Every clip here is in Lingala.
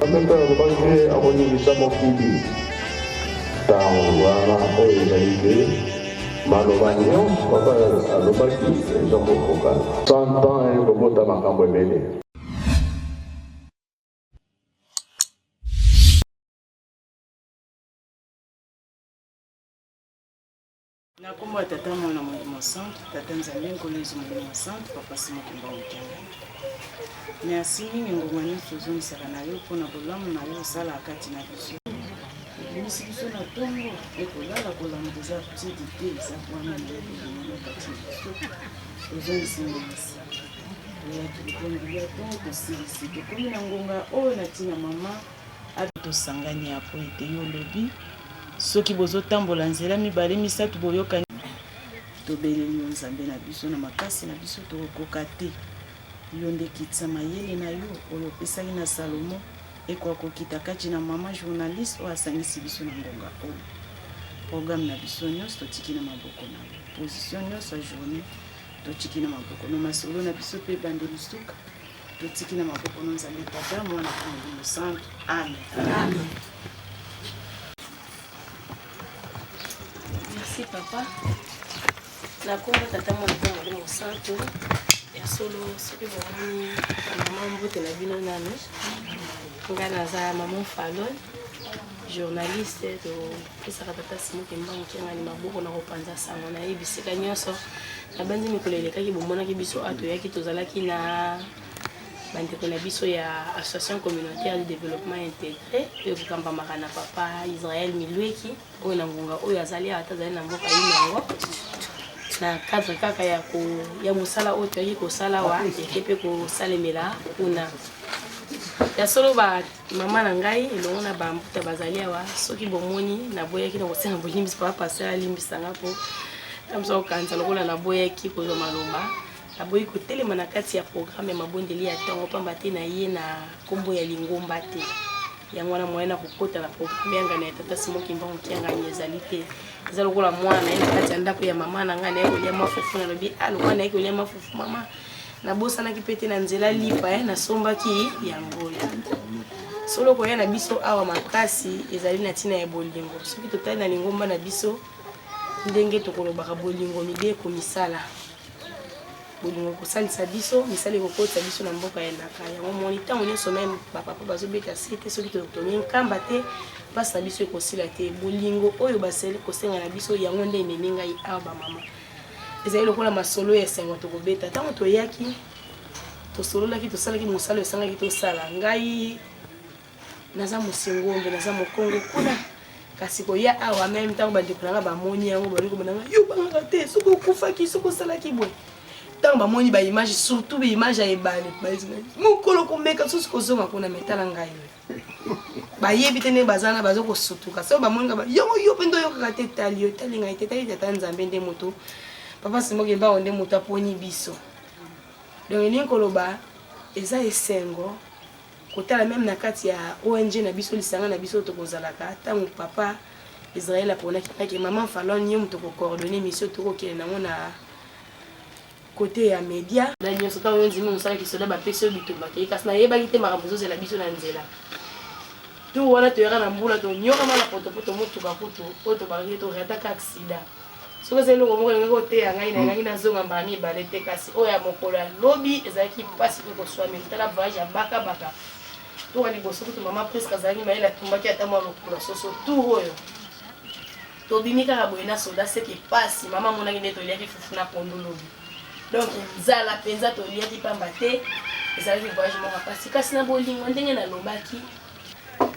Bameko alobaki te akoningisa mokili. Ntango wana oyo ezali te maloba nyonso papa alobaki eza kokokana. Santan ekobota makambo ebele. Na kombo ya Tata Mwana Molimo Santu, Tata Nzambe Nkolo Yesu Molimo Santu, Papa Simo Kimba Mokende. Merci mingi ngoma nyonso ozongisaka na yo mpo na bolamu na yo osalaka kati na biso. Ebimisi biso na ntongo ekolala kolamuka eza tidi te eza wana ndeokolingana kati na biso ozongisi ngomasi oyaki likongi ya ntongo kosilisi tokomi na ngonga oyo na ntina mama Amen tosangani awa po ete yo olobi soki bozo tambola nzela mibale misatu boyokani. Tobeleli yo Nzambe na biso, na makasi na biso tokokoka te. Yo nde kitisa mayele na yo oyo opesaki na Salomo ekoka kokita kati na mama journaliste oyo asangisi biso na ngonga oyo. Programme na biso nyonso totiki na maboko na yo. Position nyonso ya journée totiki na maboko na masolo na biso mpe bande lisuka Totiki na maboko na Nzambe Tata, Mwana mpe Molimo Santu. Amen. Amen. Merci papa. Na kombo Tata, Mwana mpe Molimo Santu. Ya solo soki bomoni mama mbote na bino nani, ngai naza maman Falon, journaliste to pesaka tata simo kimbangu kiangani maboko na kopanza sango na ye bisika nyonso nabanzi mikolo elekaki bomonaki biso awa toyaki tozalaki na bandeko na biso ya association communautaire de développement intégré mpe kokambamaka na papa israel milweki oyo na ngonga oyo azali awa te azali na mboka ye yango na cadre kaka ya, ko, ya mosala oyo toyaki kosala wa eke mpe kosalemela kuna ya solo mama na ngai elongo na bambuta bazali awa soki bomoni naboyaki na kosenga bolimbisi papa pasteur alimbisa nga mpo namosa kokanisa lokola naboyaki kozwa maloba naboyi kotelema na kati ya programme ya mabondeli ya ntongo mpamba te na ye na nkombo ya lingomba te yango wana moyen na kokota na programme ya ngana ya tata simo kimbangu kiangani ezali te eza lokola mwana ye na kati ya ndako ya mama na ngai naye kolia mafufu nalobi a ah, lokola naye kolia mafufu mama nabosanaki mpe te na nzela lipa eh, nasombaki ya ngola solo koya na biso awa makasi ezali na ntina ya bolingo soki totali na lingomba na biso ndenge tokolobaka bolingo mibe ekomisala bolingo ekosalisa biso misala ekokotisa biso na mboka ya elaka yango moni ntango nyonso meme bapapa bazobeta se te soki totongi nkamba te mpasi na biso ekosila te bolingo oyo basali kosenga na biso yango nde ememi ngai awa bamama Ezali lokola masolo ya esengo tokobeta. Ntango toyaki, tosololaki, tosalaki mosala esengaki tosala. Ngai naza mosingombe, naza mokongo kuna kasi koya awa meme ntango bandeko na ngai bamoni yango baloki komona ngai yo bangaka te soki okufaki soki osalaki boye ntango bamoni baimage surtout baimage ya ebale mokolo komeka susu kozonga kuna metala ngai bayebi te ndenge baza na baza kosutuka soki bamoni nga yongo yo mpe nde oyokaka te etali yo etali ngai te etali tata nzambe nde moto papa simoki mbango nde moto aponi biso donc elingi koloba eza esengo kotala meme na kati ya ong na biso lisanga na biso tokozalaka ntango papa israel aponaki nake mama falon ye moto kocoordonne mission tokokende nango na cote ya media na nioso tango yo ndimi mosala kisoda bapesi yo bitumba te kasi nayebaki te makambo ezozela biso na nzela tour wana toyaka na mbula tonyokama na potopoto motuka kutu oyo tobakaki torataka aksida soki eza eloko moko elingaki koteya ngai na elaki nazonga mbala mibale te kasi oyo ya mokolo ya lobi ezalaki mpasi mpe koswameli tala voyage ya bakabaka toka liboso kutu mama priske azalaki mayele atumbaki ata mwa lokula soso tour oyo Tobimi kaka boye na soda seke pasi mama amonaki nde toliaki fufu na pondu lobi. Donc nzala mpenza toliaki pamba te ezalaki voyage moko ya pasi kasi na bolingo ndenge nalobaki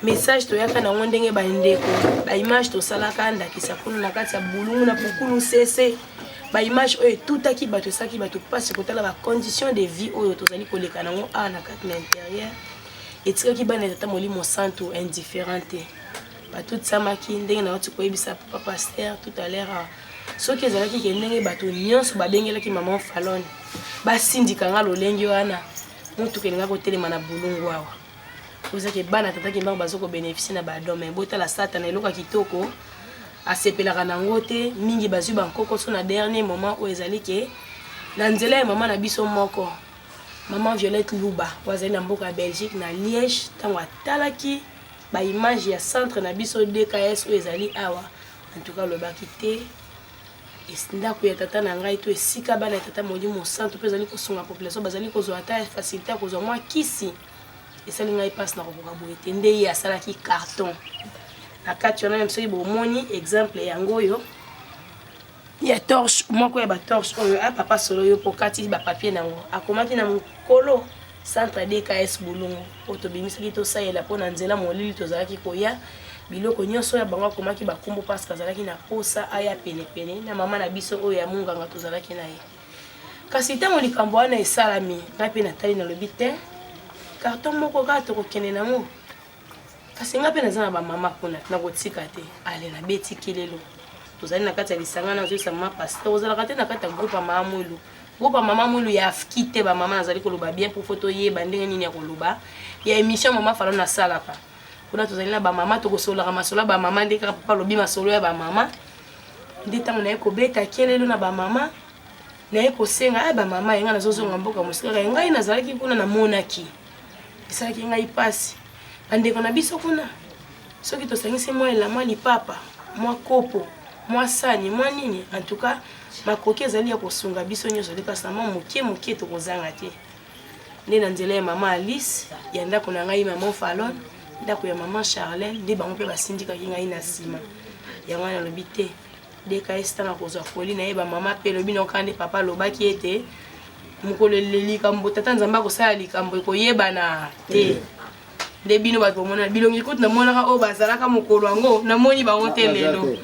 message toyaka nango ndenge bandeko baimage tosalaka ndakisa kuna na kati ya bulungu na pukulu sese baimage oyo etutaki bato esalaki bato mpasi kotala bacondition de vie oyo tozali koleka nango awa na kati na interieur etikaki bana ya tata molimo santu indifferent te batutisamaki ndenge nauti koyebisa papa paster tout à l'heure ah, soki ezalaki ke ndenge bato nyonso babengelaki maman falone basindika nga lolenge wana motuka elinga kotelema na bolungu awa ozake bana tata kimbangu baza kobeneficie na badon mai botala satana eloko ya kitoko asepelaka na yango te mingi bazwi bankokoso na dernier moment oyo ezali ke na nzela ya mama na biso moko mama violette luba oyo azali na mboka ya belgique na liège ntango atalaki Ba image ya centre na biso DKS oyo ezali awa en tout cas lobaki te ndako ya tata na ngai to esika bana ya tata molimo mosantu mpe ezali kosunga population bazali kozwa ata facilité ya kozwa mwa kisi esali ngai mpasi na kokoka boye te nde ye asalaki carton na kati wana meme soki bomoni exemple yango oyo ya torche moko ya ba torche oyo a papa solo yo po kati ba papier na ngo akomaki na mokolo centre DKS Bulungu oyo tobimisaki tosalela mpo na nzela molili tozalaki koya biloko nyonso ya bango akomaki bakombo parce azalaki na posa aya penepene na mama na biso oyo ya monganga tozalaki na ye kasi ntango likambo wana esalami ngai mpe natali nalobi te karton moko kaka tokokende nango kasi nga mpe naza na bamama kuna nakotika te ale nabeti kelelo tozali na kati ya lisanga nazoyisa mama pasteur ozalaka te na kati ya groupe ya mama mwilu groupe ya mama mwilu ya afki te bamama nazali koloba bien mpo fo toyeba ndenge nini ya koloba ya émission mama falo nasalaka kuna tozali na bamama tokosololaka masolo ya bamama nde kaka papa alobi masolo ya bamama nde ntango naye kobeta kelelo na bamama naye kosenga ya eh, bamama yenga nazozonga mboka mosika ngai nazalaki kuna namonaki esalaki ngai mpasi bandeko na biso kuna soki tosangisi mwa elama lipapa mwa kopo mwa sani mwa nini en tout cas makoki ezali ya kosunga biso nyonso te mpasi na mwa moke moke tokozanga te nde na nzela ya mama alice ya ndako na ngai mama falon ndako ya mama charlene nde bango mpe basindikaki ngai na nsima yango wana alobi te Deka esita na kozwa foli na ye bamama mpe elobi na okande papa alobaki ete mokolo eleli likambo tata nzambe akosala likambo ekoyebana te eh. nde bino bato bamonana bilongi kutu namonaka oyo bazalaka mokolo yango namoni bango te ah, lelo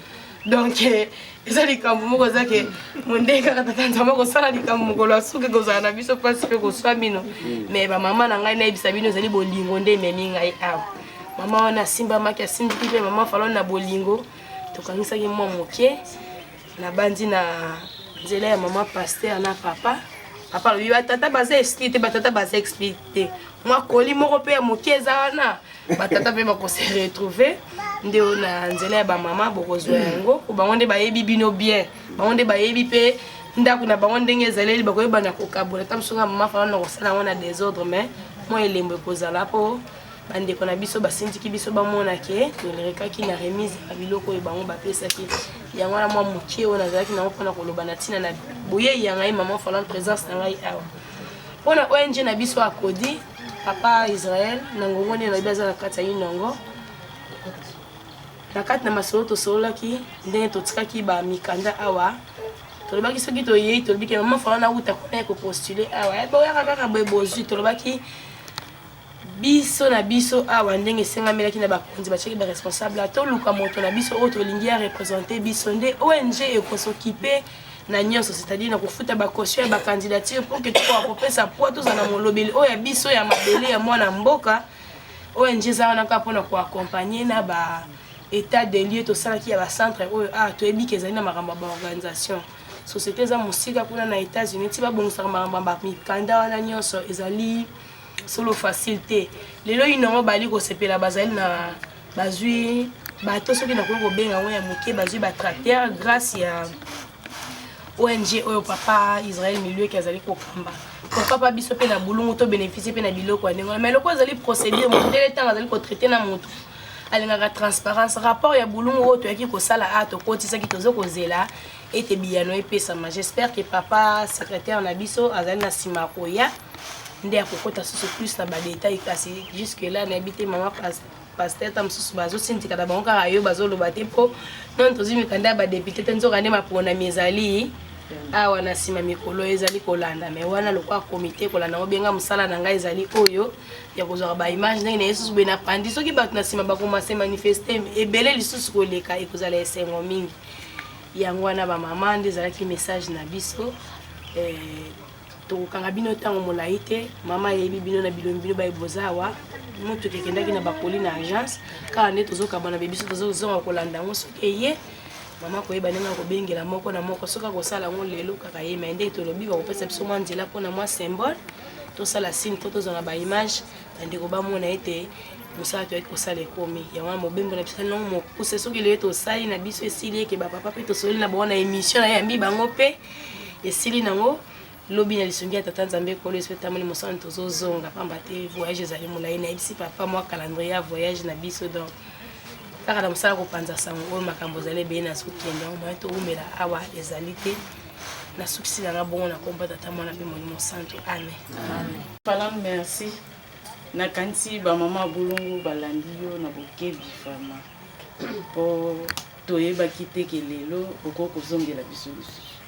donc eh, eza likambo moko eza ke mondenge kaka tata nzambe akosala likambo mokolo asuki kozala na biso mpasi mpe koswa bino mm. mais bamama na ngai nayebisa bino ezali bolingo nde ememi ngai awa mama wana asimbamaki asindiki mpe mama falone na bolingo tokangisaki mwa moke nabandi na nzela ya mama paster na papa papa alobi batata baza esprit te batata baza esprit te mwa koli moko mpe ya moke eza wana batata mpe bakose retrouve nde oyo na nzela ya bamama bokozwa yango po bango nde bayebi bino bien bango nde bayebi mpe ndako na bango ndenge ezaleli bakoyebana kokabola ta mosunga mama fana na kosala yango na desordre mais mwa elembo ekozala mpo bandeko na biso basindiki biso bamona ke tolerekaki na remise ya biloko oyo bango bapesaki yango wana mwa moke oyo nazalaki nango mpona koloba na ntina na boyei ya ngai mama falan présence na ngai awa mpo na ong na biso akodi papa israel na ngongo nde nayebi aza na kati ya inongo na kati na masolo tosololaki ndenge totikaki bamikanda awa tolobaki soki toyei tolobi ke mama falan awuta kuna ye kopostule awa eh, boyaka kaka boye bozwi tolobaki Biso na biso awa ndenge esengamelaki na bakonzi batiaki ba responsable toluka moto na biso oyo tolingi ya represente biso nde ong ekosokipe na nyonso c'est-à-dire na kofuta bacaution ya bacandidature pour que tokoka kopesa poids tozala na molobeli oyo ya biso ya mabele ya mwana mboka ong eza wana kaka mpona koaccompagne na ba état de lieu tosalaki ya bacentre oyo a toyebi ke ezali na makambo ya baorganisation société eza mosika kuna na états-unis ti babongisaka makambo ya bamikanda wana nyonso ezali solo facile te lelo yino yango bali kosepela bazali na bazwi bato soki nakoki kobenga yango ya moke bazwi batracteur grâce ya ong oyo papa israel milieuki azali kokamba papa biso mpe na bulungu to bénéficie mpe na biloko ya ndenge wana mai loko ezali procédure mondele ntango azali kotraite na moto alingaka transparence rapport ya bulungu oyo toyaki kosala a tokotisaki tozo kozela ete biyano epesama j'espère que papa secrétaire na biso azali na nsima ya koya nde akokota susu plus na badetail kasi jusque là nayebi te mama pasteur ta mosusu bazosindika na bango kaka yo bazoloba te mpo nani tozwi mikanda ya badepute te nzoka nde maponami ezali awa na nsima mikolo ezali kolanda me wana lokola komite kolanda yango benga mosala na ngai ezali oyo ya kozwaka baimage ndenge na yesusu boye na pandi soki bato na nsima bakomase manifeste ebele lisusu koleka ekozala esengo mingi yango wana ba mama nde ezalaki message na biso eh, tokokanga bino ntango molai te mama ayebi bino na bilongi bino baye boza awa motuka ekendaki na bakoli na agence kaka nde tozokabana be biso tozozonga kolanda yango soki eye mama koyeba ndenge ya kobengela moko na moko soki akosala yango lelo kaka ye mai nde tolobi bakopesa biso mwa nzela mpona mwa symbole tosala signe mpo tozwa na baimage bandeko bamona ete mosala toyaki kosala ekomi yango wana mobembo na biso nongo mokuse soki leye tosali na biso esili eke bapapa mpe tosololi na bango na émission nayambi bango mpe esili nango lobi na lisungi ya tata nzambe ekolo yesu etamoli mosala tozozonga mpamba te voyage ezali molai nayebisi papa mwa calendrier ya voyage na biso donc kaka na mosala kopanza sango oyo makambo ezali ebele nazokende yango moye towumela awa ezali te nasukisi nanga bongo na kombo tata mwana mpe molimo santu amen Palam merci na kanisi ba mama ya bolongo balandi yo na bokebi vraiment mpo toyebaki te ke lelo okoki kozongela biso lisusu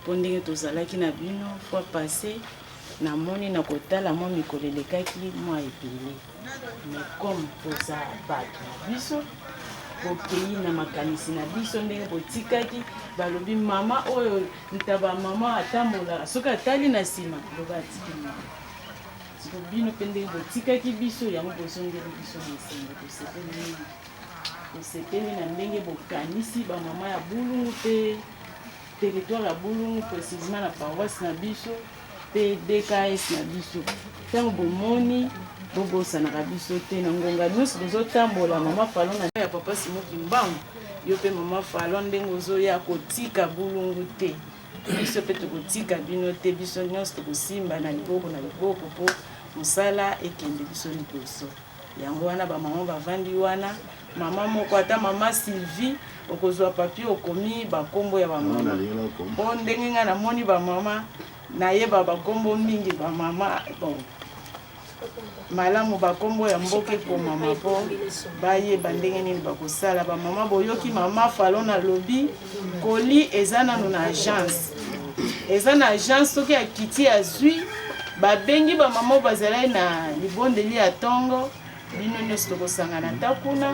mpo ndenge tozalaki na bino fois passe namoni na kotala mwa mikolo elekaki mwa ebele mais comme toza bato na biso bokei na makanisi na biso ndenge botikaki balobi mama oyo ntaba mama atambolaka soki atali na nsima loba atiki mama siko bino mpe ndenge botikaki biso yango bozongeli biso na nsengo tosepeli mingi tosepeli na ndenge bokanisi bamama ya bulungu mpe territoire ya bulungu précisement na paroisse na biso PDKS na biso ntango bomoni bobosanaka biso te na ngonga nyonso tozotambola mama falon na ya papa simo kimbangu yo mpe mama falon ndenge ozoya kotika bulungu te biso mpe tokotika bino te biso nyonso tokosimba na liboko na liboko mpo mosala ekende biso liboso Yango wana ba maman bavandi wana, mama moko ata mama Sylvie okozwa papier okomi bakombo ya bamama mpo ndenge ngai namoni bamama nayeba bakombo mingi bamama bon malamu bakombo ya mboka ekomama mpo bayeba ndenge nini bakosala bamama boyoki mama falon alobi Colis eza nano na agence, eza na agence. Soki akiti azwi, babengi bamama bazalai na libondeli ya ntongo, bino nyonso tokosangana ata kuna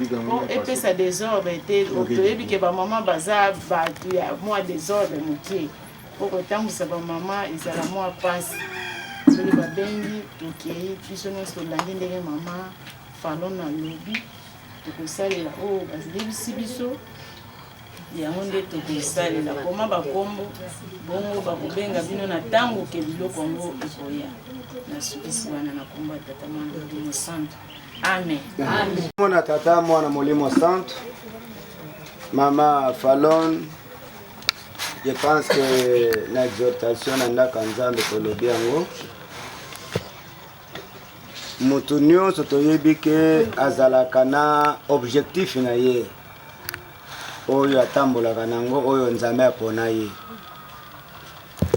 mpo epesa desordre te. Toyebi ke bamama baza bato ya mwa desordre moke, mpo kotambwisa bamama ezala mwa mpasi. Soki babengi, tokei biso nyonso tolandi ndenge mama Falona alobi. tokosalela oyo oh, bayebisi biso yango nde tokosalela koma bakombo bongo bakobenga bino na ntango ke biloko yango ekoya nasukisi wana na kombo ya tata mwana molimo santo amen mwana tata mwana molimo santo mama falon je pense que na exhortation na ndako ya nzambe tolobi yango moto nyonso toyebi ke azalaka na objectif na ye oyo atambolaka na yango oyo nzambe apona ye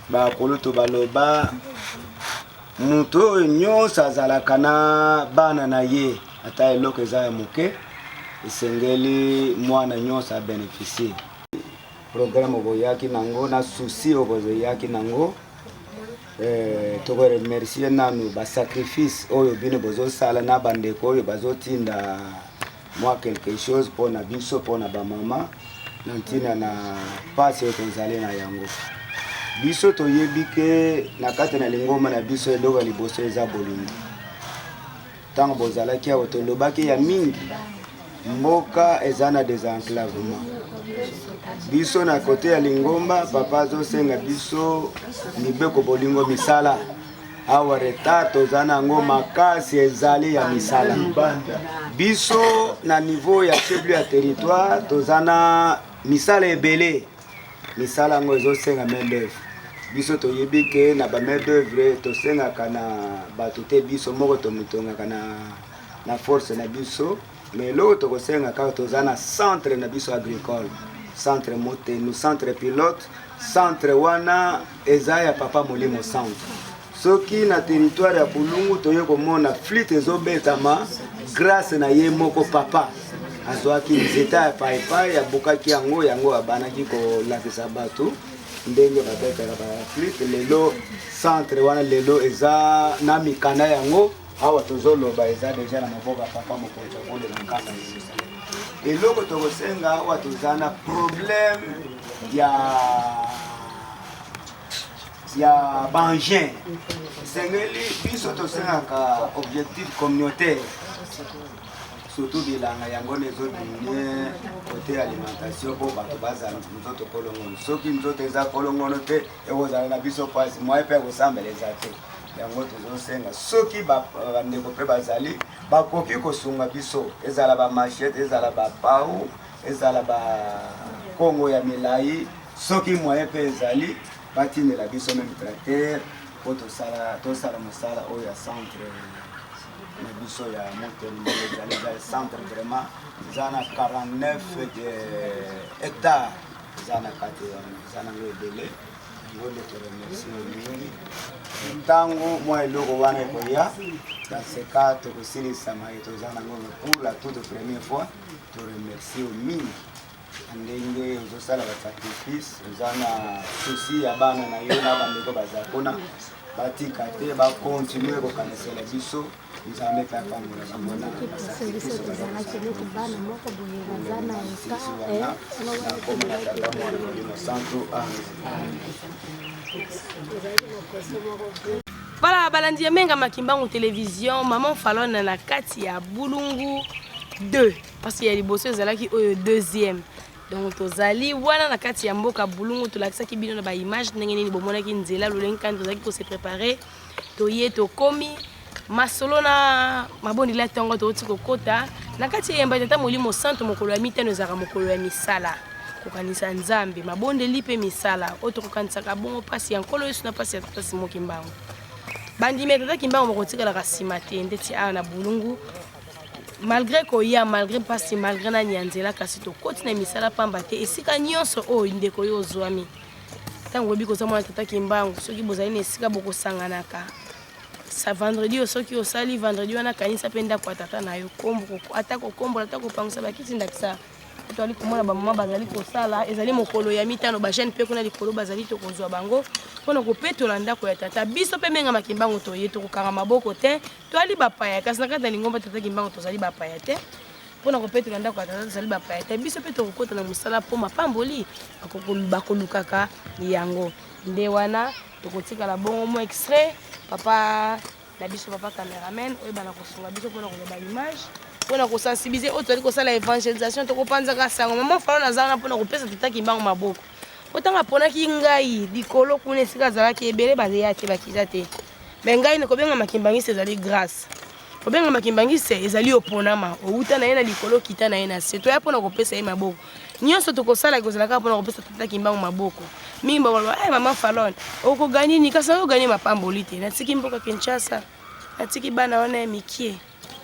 bakulutu baloba moto oyo nyonso azalaka na bana na ye ata eloko eza ya moke esengeli mwana nyonso abenefisie programe oboyaki nango na susi oboyaki nango Eh, toko remercier nanu ba sacrifice oyo bino bozosala na bandeko oyo bazotinda mwa quelque chose mpo na biso mpo na bamama na ntina na mpasi oyo tozali na yango biso toyebi ke na kati na lingomba na biso eloko ya liboso eza bolingo Tango bozalaki awa tolobaki ya mingi mboka eza na desenclavement biso na kote ya lingomba papa azosenga biso mibeko bolingo misala awa retard toza na yango makasi ezali ya misala biso na niveau ya chef ya territoire toza na misala ebele Misala yango ezosenga main d'oeuvre. Biso toyebi ke na ba main d'oeuvre tosengaka na bato te, biso moko tomitongaka na, na force na biso me eloko tokosenga kaka toza na centre na biso agricole centre motenu centre pilote centre wana eza ya papa molimo santu soki na territoire ya bulungu toye komona flite ezobetama grâce na ye moko papa azwaki nzeta ya paipai abukaki yango yango abanaki kolakisa bato ndenge babetaka baflite lelo centre wana lelo eza na mikanda yango awa tozoloba eza deja na maboko ya papa mokonzi akole na nkanda eloko tokosenga awa toza na problème ya ya baengin esengeli biso tosengaka objectif communautaire surtout bilanga yango nde ezodimine kote alimentation mpo bato bazala nzoto kolongono soki nzoto eza kolongono te ekozala na biso mpasi moye mpe ekosambela eza te yango tozosenga soki bandeko mpe bazali bakoki kosunga biso ezala bamachete ezala bapau ezala ba kongo ya milayi soki moyen pe ezali batindela biso meme tracteur po tosala tosala mosala oyo ya centre na biso ya motelema ezali ezali centre vraiment eza na 49 hectare eza na kati wana eza nango ebele yango nde toremercie mingi ntango mwa eloko wana ekoya kaseka tokosilisa maye toza nango pour la toute première fois to remercie yo mingi na ndenge ozosala basacrifice oza na souci ya bana na yo na bandeko baza kuna batika te bakontinue kokanisela biso nzambe mpe apambola bango na basacrifice nakomona tata mwana molimo santu amen Voilà, balandi ya Menga Makimbangu Television, Maman Falona na kati ya Bulungu 2. Parce qu'il y a liboso ezalaki oyo deuxième. Donc tozali wana na kati ya mboka Bulungu tolakisaki bino na ba image ndenge nini bomonaki nzela lolenge kani tozalaki ko se préparer. Toye tokomi masolo na mabondeli ya ntongo touti kokota na kati ya yambai tata molimo santu mokolo ya mitano ezalaka mokolo ya misala kokanisa nzambe mabondeli mpe misala oyo tokokanisaka bongo mpasi ya nkolo yesu na mpasi ya tata simo kimbangu bandimi ya tata kimbangu bakotikalaka nsima te ndeti awa na bulungu malgré koya malgré mpasi malgré nani ya nzela kasi tokoti na misala mpamba te esika nyonso oyo ndeko yo ozwami ntango oyebi koza mwana tata kimbangu soki bozali na esika bokosanganaka sa vendredi oyo soki osali vendredi wana kanisa mpe ndako ya tata na yo ata kokombola ata kopangusa bakiti ndakisa tozali komona bamama bazali kosala ezali mokolo ya mitano bajeune mpe kuna likolo bazali tokozwa bango mpo na kopetola ndako ya tata biso mpe menga makimbango toye tokokanga maboko te toali bapaya kasi na kati ya lingomba tata kimbango tozali bapaya te mpo na kopetola ndako ya tata tozali bapaya te biso mpe tokokota na mosala mpo mapamboli bakolukaka yango nde wana tokotikala bongo mo extrait papa na biso papa cameraman oyeba na kosunga biso mpona koloba image mpona kosensibilize oyo tozali kosala evangelisation tokopanzaka sango mama falo naza wana mpona kopesa tata kimbango maboko po ntango aponaki ngai likolo kuna esika azalaki ebele bazeya te bakita te me ngai nakobenga makimbangisi ezali grâce kobenga makimbangisi ezali oponama owuta na ye na likolo kita na ye na se toya mpona kopesa ye maboko nyonso tokosala ekozala kaka mpona kopesa tata kimbangu maboko mingi bakoloba hey, eh, mama falon okoganye nini kasi nakoganye mapamboli te natiki mboka kinshasa natiki bana wana ya mikie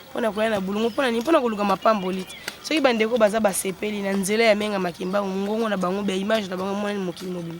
mpona koya na bulungu mpona nini mpona koluka mapamboli te soki bandeko baza basepeli na nzela ya menga makimbangu mongongo na bango bia image na bango emonani mokili mobima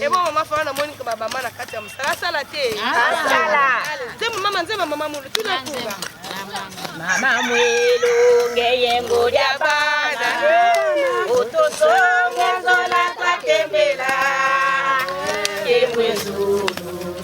Ebo mama fana na moni kama bama na kati ya mosala asala te asala nzembo mama nzembo mama mulu tuna kunga mama mwelu ngeyengo lya bana otosonge nzola twakembela kembwe zulu